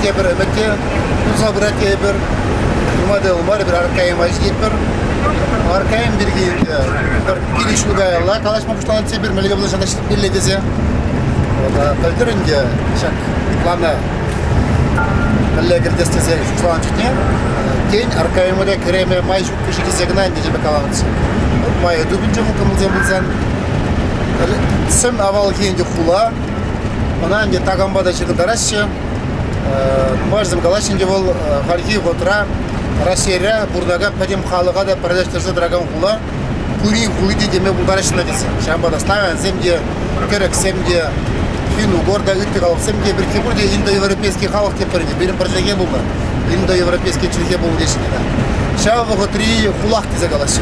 тепӗр ӗмӗте пулса пырать тейӗпӗр. Нумай та мар пӗр Аркаем ҫитетпӗр. Аркаем пирки пӗр килӗшӳ каялла калаҫма пуҫланӑ тепӗр мӗнле пулса ҫитмелле тесе. Пӗлтӗр ӗнтӗ ҫак плана Мӗнле кӗртес тесен тӑван чухне тен Аркайӑмӑра кӗреме май ҫук кӗшӗ килсе кӑна ӗнтӗ каланӑ. Май тупӑнчӗ хупӑнусем пулсан. Сӗм авалхи ӗнтӗ хула, ӑна ӗнтӗ такампа та ҫыртараҫҫӗ. Нумайӑшсем калаҫҫӗ ӗнтӗ вӑл хальхи вӑхӑтра Раҫҫейре пурӑнакан пӗтӗм халӑха та пӗрлештерсе тӑракан хула Кури хули теме пултараҫҫӗ кӗтсе. Ҫавӑнпа та ставянсем те кӗрӗксем те, финн-угор та, ытти халӑхсем те пирки пурте индоевропейский халӑх теппӗрне пирӗн пӗр чӗлхе пулнӑ, индоевропейский чӗлхе пулнӑ теҫҫӗ Ҫав вӑхӑтри хулах тесе калаҫҫӗ.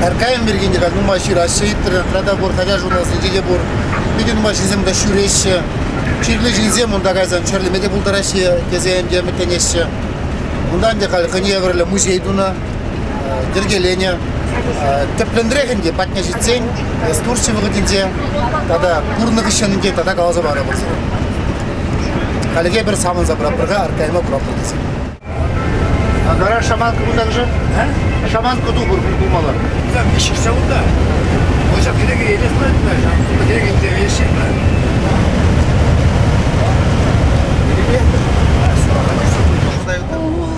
Аркайм пирки те нумай ҫыраҫҫӗ, Иттер, Радогор, Таяр журналсенче те пур. Питӗ нумай ҫынсем та ҫӳреҫҫӗ. Чирлӗ ҫынсем унта кайсан чирлеме те пултараҫҫӗ тесе ӗнтӗ ӗмӗтленеҫҫӗ. Унтан те халь хӑйне евӗрлӗ музей тунӑ. йӗркеленӗ. Тӗплӗнрех ӗнтӗ патне ҫитсен экскурси вӑхӑтӗнче тата пурӑннӑ хыҫҫӑн ӗнтӗ тата каласа парӑпӑр. Хальхи пӗр савӑнса пӑраппӑр-ха, аркайма пӑраппӑр тесен. Гараж шаманка кунтан-ши? Шаманка тухӑр пулмалла. Кам виҫшсе унта? Ӑҫа кирек елес пулать кирек инте виҫшет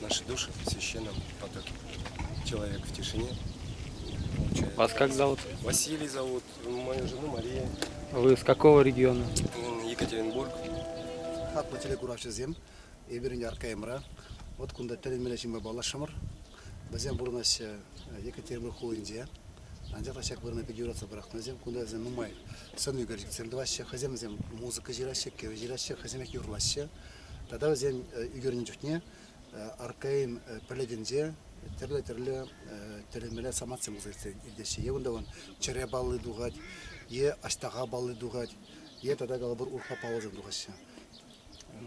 наши души в священном потоке. Человек в тишине. Вас как зовут? Василий зовут, мою жену Мария. Вы с какого региона? Екатеринбург. Хаклӑ телекуравҫӑсем, эпир ӗнтӗ Аркаймра. Вот кунта тӗлӗнмелле ҫынпа паллашрӑмӑр. Вӗсем пурӑнаҫҫӗ Екатеринбург хулинче. Анчах та ҫак вырӑна пит юратса пӑрахнӑ Кунта вӗсем нумай сӑн ӳкерчӗксем тӑваҫҫӗ, хӑйсем вӗсем музыка ҫыраҫҫӗ, кӗвӗ ҫыраҫҫӗ, хӑйсемех юрлаҫҫӗ. Тата вӗсен ӳкернӗ чухне аркаин пӗлӗтӗнче тӗрлӗ-тӗрлӗ тӗрӗмеле самантсем пулса иртеҫҫӗ. Е унта вон чӗре палли тухать, е аҫтаха палли тухать, е тата калӑпӑр урпа паллӑсем тухаҫҫӗ.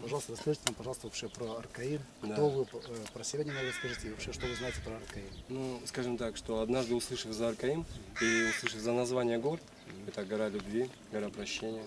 Пожалуйста, расскажите нам, пожалуйста, вообще про аркаин. Кто вы, про себя немного расскажите, и вообще, что вы знаете про аркаин? Ну, скажем так, что однажды, услышав за аркаин и услышав за название гор, это гора любви, гора прощения,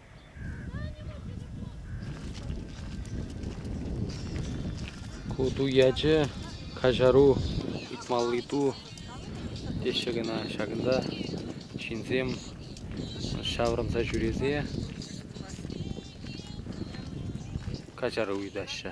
Ку ту ячӗ каҫару ыйтмалли ту теҫҫӗ кӑна. Ҫакӑнта ҫынсем ҫаврӑнса ҫӳресе каҫару ыйтаҫҫӗ.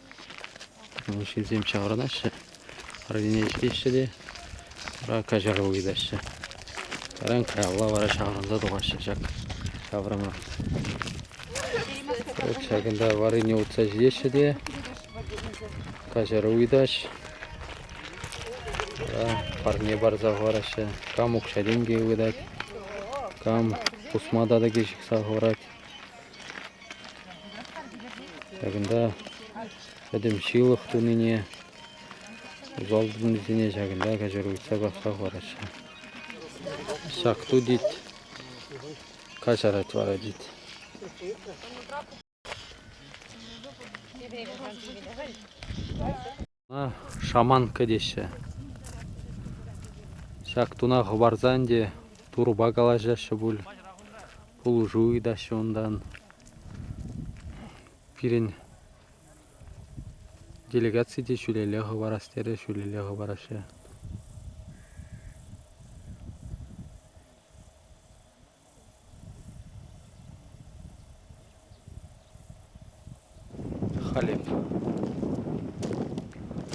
Ҫынсем ҫаврӑнаҫҫӗ, арӑмне ӗҫлеҫҫӗ те вара каҫару ыйтаҫҫӗ. Таран каялла вара ҫаврӑнса тухаҫҫӗ ҫак ҫаврӑма. Ҫакӑнта варрине утса ҫитеҫҫӗ те каҫару ыйтаҫ. Парне парса хӑвараҫҫӗ. Кам укҫа-тенкӗ ывӑтать, кам пусма татӑкӗ ҫыхса хӑварать. Ҫакӑнта пӗтӗм ҫылӑх тунине, усал тунисене ҫакӑнта каҫару ыйтса касса хӑвараҫҫӗ. Ҫак ту тет, каҫарать вара тет. Ӑна шаманка теҫҫӗ. Ҫак туна хӑпарсан те турӑпа калаҫаҫҫӗ пуль, пулӑшу ыйтаҫҫӗ унтан. Пирӗн делегаци те ҫӳлелле хӑварас терӗ, ҫӳлелле хӑвараҫҫӗ. Халеп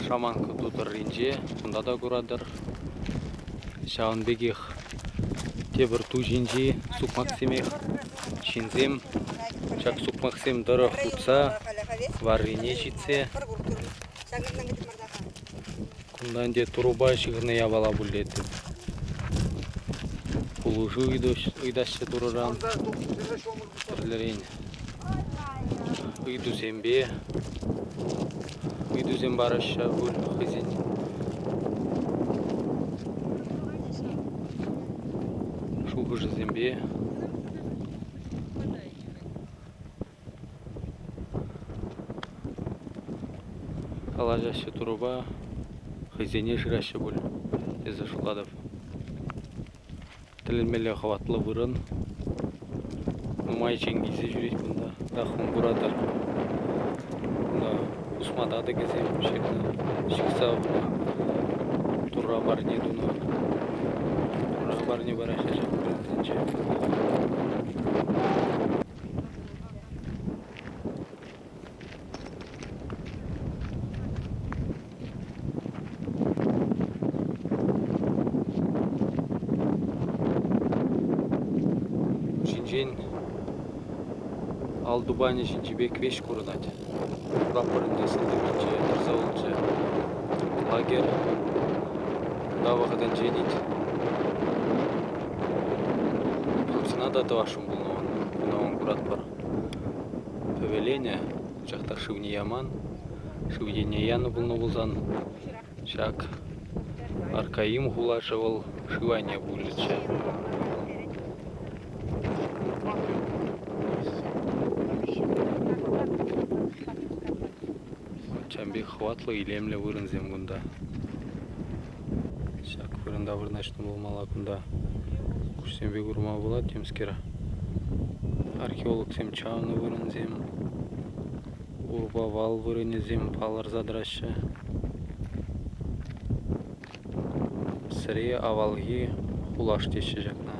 шаманка ту тӑрринче кунта та куратӑр. Ҫавӑн пекех тепӗр ту ҫинчи сукмаксемех ҫынсем ҫак сукмаксем тӑрӑх утса варрине ҫитсе Кунта ӗнтӗ турӑпа ҫыхӑннӑ япала пуллеттӗм. Пулӑшу ыйтаҫҫӗ турӑран. Тӗрлӗрен ыйтусемпе ыйтусем параҫҫӗ пуль хӑйсен. Шухӑшӗсемпе Калаҫаҫҫӗ турӑпа, хӑйсене шыраҫҫӗ пуль, тесе шутлатӑп. Тӗлӗнмелле хӑватлӑ вырӑн. Нумай чӗнкӗсе ҫӳрет кунта, рахман куратӑр. Кунта хушма татӑкӗсем ҫырнӑ, ҫыхса хунӑ. Турра парне тунӑ. Турра парне параҫҫӗ ҫак вырӑнсенче. ҫинчен ал тупанӗ ҫинчи пек веҫ курӑнать. Прапор ӗнтӗ сӑлтавӗнче тӑрса улчӗ. Лагерь кунта вӑхӑтӗнчен ит. Хыпсана та тӑваш ӑна мӑн куратпӑр. Пӗвеленӗ, пачах та шывне яман. Шыв енне янӑ пулнӑ пулсан, ҫак Аркаим хулашӗ вӑл шыв айне пулчӗччӗ. Чам пек хӑватлӑ илемлӗ вырӑнсем кунта. Ҫак вырӑнта вырнаҫнӑ пулмалла кунта. Куҫсемпе курма пулать темскер. Археологсем чавнӑ вырӑнсем, урпа вал вырӑнӗсем палӑрса тӑраҫҫӗ. Сӗре авалхи хулаш теҫҫӗ ҫакна.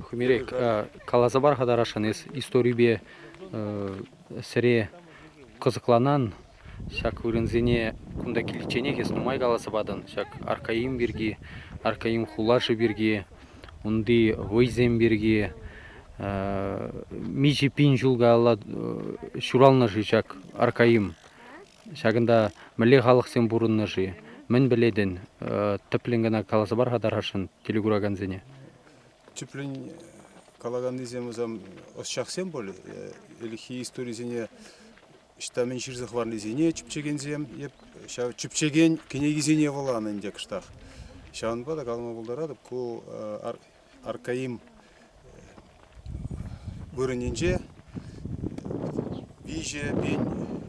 Хӳмерех каласа пар-ха тарашшӑн эс историпе сӗре кӑсӑкланан. Ҫак вырӑнсене кунта киличченех эс нумай каласа патӑн. Ҫак Аркаим пирки, Аркаим хулашӗ пирки, унти вӑйсем пирки миҫе пин ҫул каялла ҫуралнӑ-ши ҫак Аркаим? Ҫакӑнта мӗнле халӑхсем пурӑннӑ-ши? Мӗн пӗлетӗн? Тӗплӗн кӑна каласа пар-ха тархасшӑн телекуракансене. Тӗплӗн калаканнисем ӑсчахсем пуль, ӗлӗкхи историсене Ӑҫта мӗн ҫырса хӑварнисене чӗпчекенсем, эп ҫав чӗпчекен кӗнекисене вуланӑ ӗнтӗ кӑштах. Ҫавӑнпа та калама пултаратӑп, ку аркаим вырӑнӗнче виҫӗ пин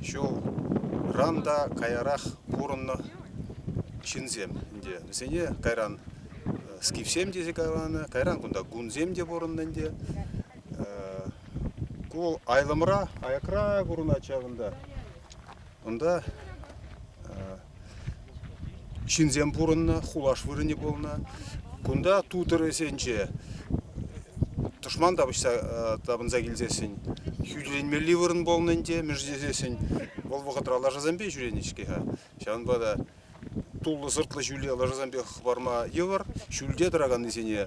ҫулран та каярах пурӑннӑ ҫынсем ӗнтӗ. Вӗсене кайран скифсем тесе каланӑ, кайран кунта гунсем те пурӑннӑ ӗнтӗ. Ку вӑл айлӑмра, аякра курӑнать ҫавӑнта. Унта ҫынсем пурӑннӑ, хулаш вырӑнӗ пулнӑ. Кунта тутӑр ӗсенче тӑшман тапӑҫса тапӑнса килсессӗн хӳтӗленмелли вырӑн пулнӑ ӗнтӗ, мӗш тесессӗн вӑл вӑхӑтра лашасемпе ҫӳренӗ-ҫке-ха. Ҫавӑнпа та туллӑ-сӑртлӑ ҫӳле лашасемпе хӑпарма йывӑр. Ҫӳлте тӑраканнисене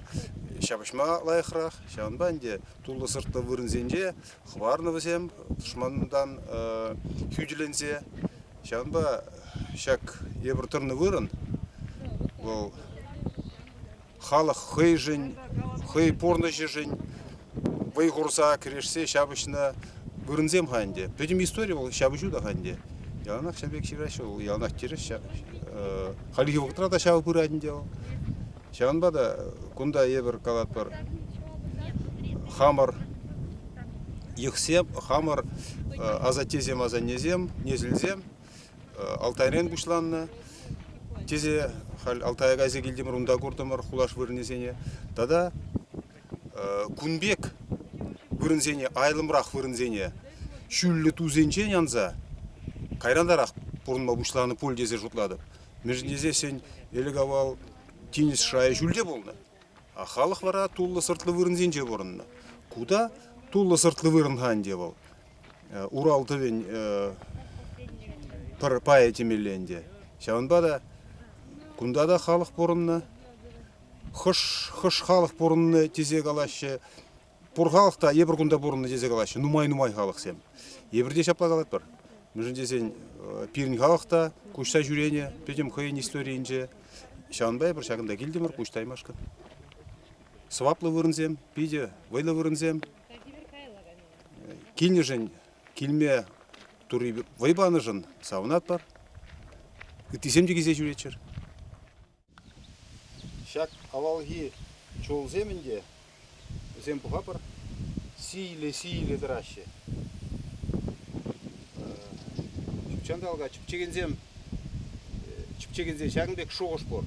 ҫапӑҫма лайӑхрах. Ҫавӑнпа ӗнтӗ туллӑ-сӑртлӑ вырӑнсенче хӑварнӑ вӗсем тӑшмантан хӳтӗленсе. Ҫавӑнпа ҫак эпир тӑрнӑ вырӑн вӑл халӑх хӑйшӗн, хӑй пурнӑҫӗшӗн вӑй хурса кӗрешсе ҫапӑҫнӑ вырӑнсем-ха ӗнтӗ. Пӗтӗм истори вӑл ҫапӑҫу та-ха ӗнтӗ. Яланах ҫав пек ҫыраҫҫӗ вӑл, яланах тӗрӗс. Хальхи вӑхӑтра та ҫав пырать ӗнтӗ вӑл. Ҫавӑнпа та кунта эпир калатпӑр хамӑр йӑхсем, хамӑр асаттесем-асаннесем, несӗлсем Алтайрен пуҫланнӑ. Тесе халь Алтая кайса килтӗмӗр, унта куртӑмӑр хулаш вырӑнӗсене. Тата кун пек вырӑнсене, айлӑмрах вырӑнсене ҫӳллӗ тусенчен анса кайрантарах пурӑнма пуҫланӑ пуль тесе шутлатӑп. Мӗншӗн тесен ӗлӗк-авал тинӗс шайӗ ҫӳлте пулнӑ. Халӑх вара туллӑ-сӑртлӑ вырӑнсенче пурӑннӑ. Ку та туллӑ-сӑртлӑ вырӑн-ха ӗнтӗ вӑл. Урал тӑвӗн пӗр пайӗ темелле ӗнтӗ. Ҫавӑнпа та кунта та халӑх пурӑннӑ. Хӑш, хӑш халӑх пурӑннӑ тесе калаҫҫӗ. пур халӑх та эпир кунта пурӑннӑ тесе калаҫҫӗ нумай-нумай халӑхсем эпир те ҫапла калатпӑр мӗншӗн тесен пирӗн халӑх та куҫса ҫӳренӗ пӗтӗм хӑйӗн историйӗнче ҫавӑнпа эпир ҫакӑнта килтӗмӗр куҫ таймашкӑн сӑваплӑ вырӑнсем питӗ вӑйлӑ вырӑнсем килнӗшӗн килме турри вӑй панӑшӑн савӑнатпӑр ыттисем те килсе ҫӳреччӗр Ҫак авалхи чулсем ӗнтӗ, вӗсем пӑхӑпӑр, сийлӗ-сийлӗ тӑраҫҫӗ. Ҫутҫанталӑка чӗпчекенсем чӗпчекенсен ҫакӑн пек шухӑш пур.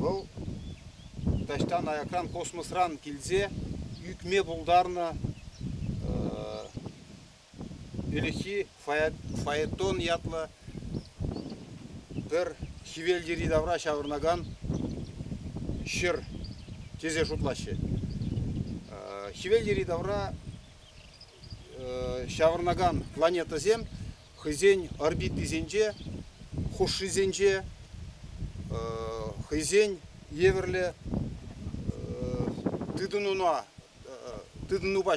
Вӑл таҫтан аякран космосран килсе ӳкме пултарнӑ Ӗлӗкхи фаэтон ятлӑ пӗр хӗвел йӗри-тавра ҫаврӑнакан ҫӗр тесе шутлаҫҫӗ. Хӗвел йӗри-тавра ҫаврӑнакан планетӑсем хӑйсен орбитисенче, хушшисенче хӑйсен евӗрлӗ тытӑнуна тытӑнупа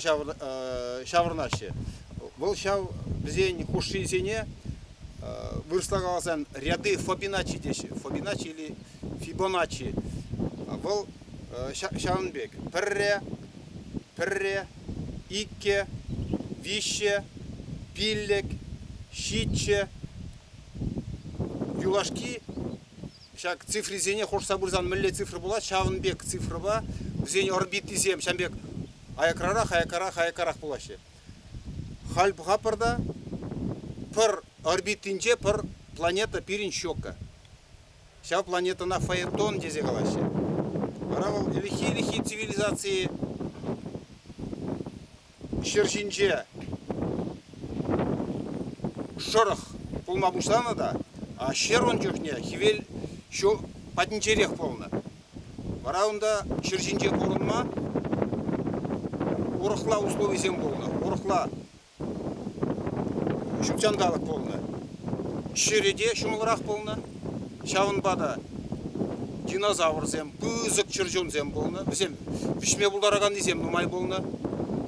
ҫаврӑнаҫҫӗ. Вӑл ҫав вӗсен хушшисене вырӑсла каласан ряды Фабиначчи теҫҫӗ. Фабиначчи или Фибоначчи. Вӑл ҫавӑн пек пӗрре, пӗрре, иккӗ, виҫҫе, пиллӗк, ҫиччӗ, юлашки Ҫак цифрисене хушса пырсан мӗнле цифра пулать? Ҫавӑн пек цифрӑпа вӗсен орбитисем ҫавӑн пек аякрарах, аякрарах, аякрарах пулаҫҫӗ. Халь пӑхатпӑр та, пӗр орбитинче пӗр планета пирӗн щека. Ҫав планетӑна Фаэтон тесе калаҫҫӗ. Вара вӑл ӗлӗкхи-ӗлӗкхи цивилизаци ҫӗр ҫинче шӑрӑх пулма пуҫланӑ та ҫӗр ун чухне хӗвел ҫу патӗнчерех пулнӑ. Вара унта ҫӗр ҫинче пурӑнма урӑхла условисем пулнӑ, урӑхла ҫут ҫанталӑк пулнӑ. Ҫӗрӗ те ҫӑмӑлрах пулнӑ. Ҫавӑнпа та динозаврсем, пысӑк чӗрчунсем пулнӑ, вӗсем вӗҫме пултараканнисем нумай пулнӑ.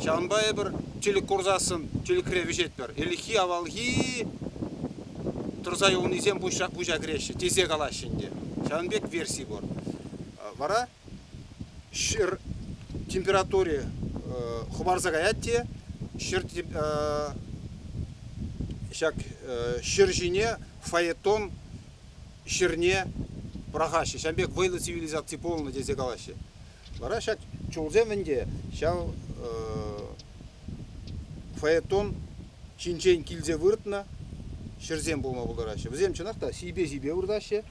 Ҫавӑнпа эпир тилӗк курсассӑн тилӗкре вӗҫетпӗр. Ӗлӗкхи, авалхи тӑрса юлнисем пуҫа кӗреҫҫӗ, тесе калаҫҫӗ ӗнтӗ. Ҫавӑн пек версии пур. Вара ҫӗр температури хӑпарса каять те ҫӗр ҫак ҫӗр ҫине фаэтон ҫӗрне пӑрахаҫҫӗ. Ҫавӑн пек вӑйлӑ цивилизаци пулнӑ тесе калаҫҫӗ. Вара ҫак чулсем ӗнтӗ ҫав фаэтон ҫинчен килсе выртнӑ ҫӗрсем пулма пултараҫҫӗ. Вӗсем чӑнах та сийпе-сийпе выртаҫҫӗ.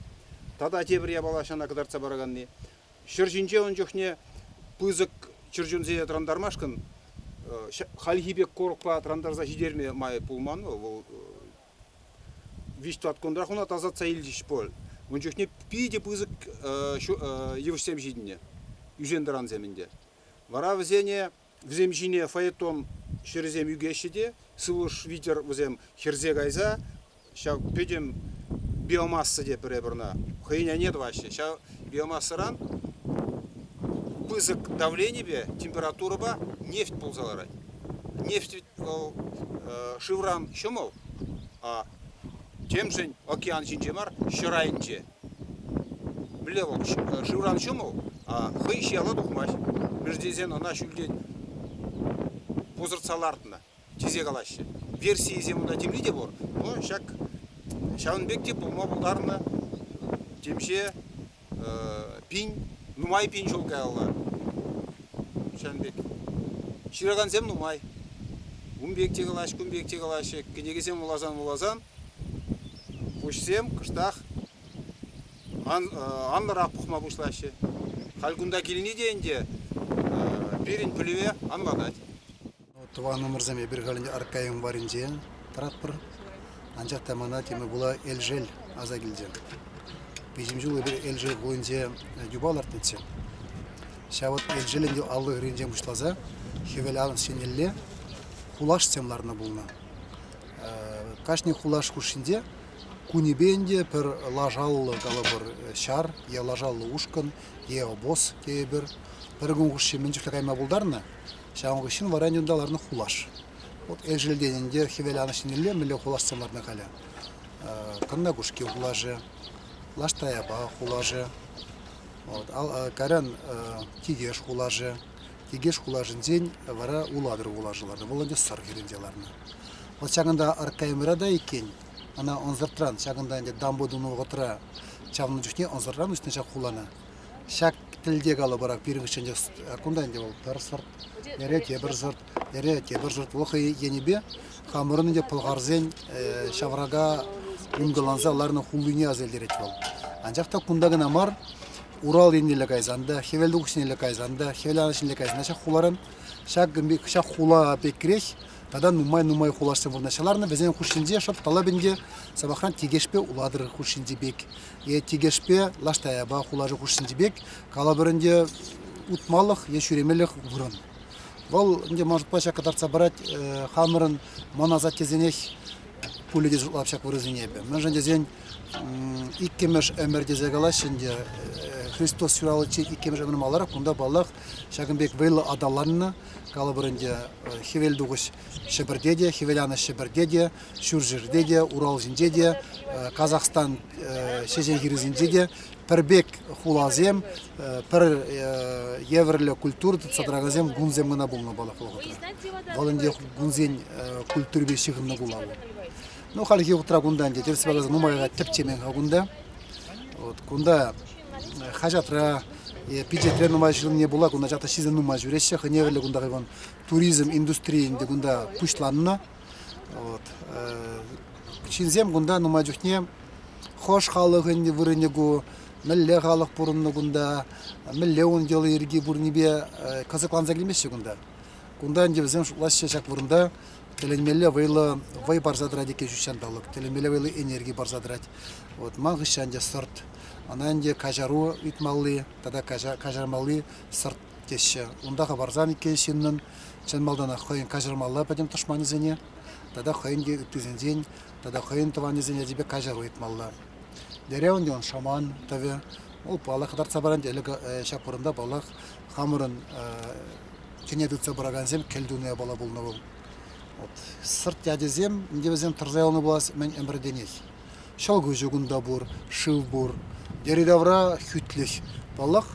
Тата тепӗр япала ҫана кӑтартса параканни. Ҫӗр ҫинче ун чухне пысӑк чӗрчунсене тӑрантармашкӑн хальхи пек корокпа тӑрантарса ҫитерме май пулман вӑл. Вӑл виҫ тӑваткунрах ӑна тасатса илчӗҫ пуль. Ун чухне питӗ пысӑк йывӑҫсем ҫитӗннӗ, ӳсен-тӑрансем ӗнтӗ. Вара вӗсене Вӗсем ҫине фаэтон ҫӗрӗсем ӳкеҫҫӗ те сывлӑш витӗр вӗсем хӗрсе кайса ҫав пӗтӗм биомасса те пӗрре пӗрна хӑйӗн айне тӑваҫҫӗ. Ҫав биомассӑран пысӑк давленипе температурӑпа нефть пулса ларать. Нефть вӗт вӑл шывран ҫӑмӑл, а темшӗн океан ҫинче мар, ҫӗр айӗнче. Мӗнле вӑл шывран ҫумӑл, а хӑй ҫияла тухмасть. Мӗш тесен ӑна ҫӳлтен пусӑртса лартнӑ, тесе калаҫҫӗ. Версийӗсем унта темле те пур, но ҫак ҫавӑн пек те пулма пултарнӑ темиҫе пин, нумай пин ҫул каялла. Ҫавӑн пек. Ҫыракансем нумай. Ун пек те калаҫҫӗ, кун пек те калаҫҫӗ. Кӗнекесем вуласан-вуласан Куҫсем кӑштах анлӑрах пухма пуҫлаҫҫӗ. Халь кунта килни те ӗнтӗ пирӗн пӗлӗве анлатать. Тӑван ӑмӑрсем эпир халь ӗнтӗ Аркайӑм варӗнчен тӑратпӑр. Анчах та мана темӗн пула Элшел аса килчӗ. Виҫӗм ҫул эпир Элшел хулинче юпа лартнӑччӗ. Ҫав вӑт Элшел ӗнтӗ аллӑ хӗрринчен пуҫласа Хӗвел анӑҫ еннелле хулашсем ларнӑ пулнӑ. Кашни хулаш хушшинче кунӗпе ӗнтӗ пӗр лашаллӑ, калӑпӑр, ҫар е лашаллӑ ушкӑн е обоз тейӗпӗр. Пӗр кун хушши мӗн чухлӗ кайма пултарнӑ, ҫавӑн хыҫҫӑн вара ӗнтӗ унта ларнӑ хулаш. Вот Элшелтен ӗнтӗ хӗвел анӑҫ еннелле мӗнле хулашсем ларнӑ халӗ. Каннакушки хулашӗ, Лаштаяпа хулашӗ, вот, Карян Тикеш хулашӗ, Тикеш хулашӗнчен вара Улатӑр вулашӗ лартнӑ. Вӑл ӗнтӗ Сӑр хӗрринче лартнӑ. Вӑл ҫакӑнта Аркайӑмра та иккен. Ӑна ӑнсӑртран ҫакӑнта ӗнтӗ дамба тунӑ вӑхӑтра чавнӑ чухне ӑнсӑртран уҫнӑ ҫак хулана. Ҫак тӗлте калӑпӑр пирӗнхи кунта ӗнтӗ вӑл пӗр сӑрт, эре тепӗр сӑрт, эре тепӗр сӑрт вӑл хӑй енӗпе хамӑрӑн ӗнтӗ пӑлхарсен ҫаврака ункӑланса ларнӑ хулине аса илтерет вӑл. Анчах та кунта кӑна мар, Урал еннелле кайсан та, хӗвел тухӑҫнелле кайсан та, хӗвел анӑҫнелле кайсан та ҫак хуларан ҫак хула пек кӗреҫ тата нумай-нумай хулашсем вырнаҫса ларнӑ. Вӗсен хушшинче шӑп талап ӗнтӗ сӑмахран Тикешпе Улатӑр хушшинчи пек, е Тикешпе Лаштаяпа хулашӗ хушшинчи пек, калӑпӑр ӗнтӗ утмалӑх е ҫӳремелӗх вырӑн. Вӑл ӗнтӗ ман шутпа ҫак кӑтартса парать хамӑрӑн мӑн асаттесенех пулӗ те шутлап ҫак вырӑсене эпӗ. Мӗншӗн тесен иккӗмӗш ӗмӗр тесе калаҫҫӗ ӗнтӗ. Христос ҫураличчен иккӗмӗш ӗмӗр маларах кунта, паллах, ҫакӑн пек вӑйлӑ аталаннӑ. Калӑпӑр ӗнтӗ, хӗвел тухӑҫ Ҫӗпӗрте те, хӗвел анӑҫ Ҫӗпӗрте те, ҫурҫӗрте те, Урал ҫинче те, Казахстан ҫеҫен хирӗсенче те пӗр пек хуласем, пӗр евӗрлӗ культура тытса тӑракансем кунсем кӑна пулнӑ палӑк вӑхӑтра. Вӑл ӗнтӗ кунсен культурипе ҫыхӑннӑ хула вӑл. Ну, хальхи вӑхӑтра кунта ӗнтӗ тӗрӗс палласа нумайга тӗпчемен-ха кунта. Вот кунта хаҫатра е пичетре нумай ҫырӑнни пула кунта чата ҫисе нумай ҫӳреҫҫӗ. Хӑневӗллӗ кунта хайван туризм индустрийӗ ӗнтӗ кунта пуҫланнӑ. Вот. Ҫынсем кунта нумай чухне хӑш халӑхӑн вырӑнӗ ку, мӗнле халӑх пурӑннӑ кунта, мӗнле ун йӑли-йӗрки пурнипе кӑсӑкланса килмеҫҫӗ кунта. Кунта ӗнтӗ вӗсем шутлаҫҫӗ ҫак вырӑнта тӗлӗнмелле вӑйлӑ вӑй парса тӑрать иккен ҫутҫанталӑк, тӗлӗнмелле вӑйлӑ энерги парса тӑрать. Вот ман хыҫҫан те сӑрт, ӑна ӗнтӗ каҫару ыйтмалли тата каҫармалли сӑрт теҫҫӗ. Унта хӑварсан иккен ҫыннӑн чӑн малтанах хӑйӗн каҫармалла пӗтӗм тӑшманӗсене тата хӑйӗн те ыттисенчен тата хӑйӗн тӑванӗсен ячӗпе каҫару ыйтмалла. Дереv ӗнтӗ ун шаман тӑвӗ. Вӑл паллах кӑтартса парать. Ӗлӗк ҫак вырӑнта паллах хамӑрӑн тӗне тытса пыракансем кӗлтунӑ япала пулнӑ вӑл. Вот сӑрт ячӗсем ӗнтӗ вӗсем тӑрса юлнӑ пулас мӗн ӗмӗртенех. Ҫӑлкуҫӗ кунта пур, шыв пур. Йӗри-тавра хӳтлӗх. Паллах,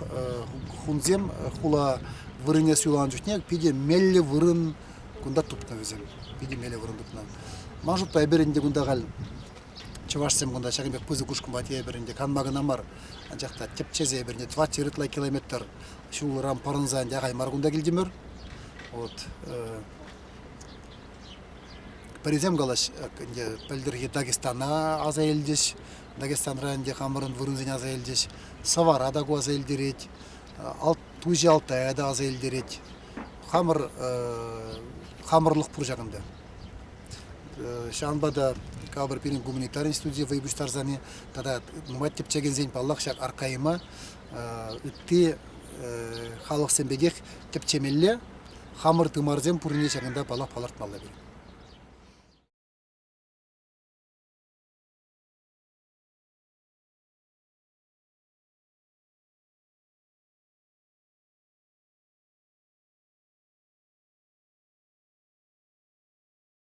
хунсем хула вырӑнне суйланӑ чухне питӗ меллӗ вырӑн кунта тупнӑ вӗсем. Питӗ меллӗ вырӑн тупнӑ. Ман шутпа эпир ӗнтӗ кунта халь чӑвашсем кунта ҫакӑн пек пысӑк ушкӑнпа тейӗпӗр ӗнтӗ канма кӑна мар, анчах та тӗпчесе эпир ӗнтӗ тӑватҫӗ ытла километр ҫулран пӑрӑнса ӗнтӗ ахаль мар кунта килтӗмӗр. Вот Пӗрисем калаҫ, ӗнтӗ пӗлтӗрхи Дагестана аса илчӗҫ. Дагестанра ӗнтӗ хамӑрӑн вырӑнсене аса илчӗҫ. Сӑвара та ку аса илтерет. Туҫи Алтая та аса илтерет. Хамӑр хамӑрлӑх пур ҫакӑнта. Ҫавӑнпа та капӑр пирӗн гуманитарин студийӗ вӑй пуҫтарсани тата нумай тӗпчекенсен, паллах, ҫак аркайма ытти халӑхсем пекех тӗпчемелле. Хамӑр тымарсем пуррине ҫакӑнта паллах палӑртмалла-пир.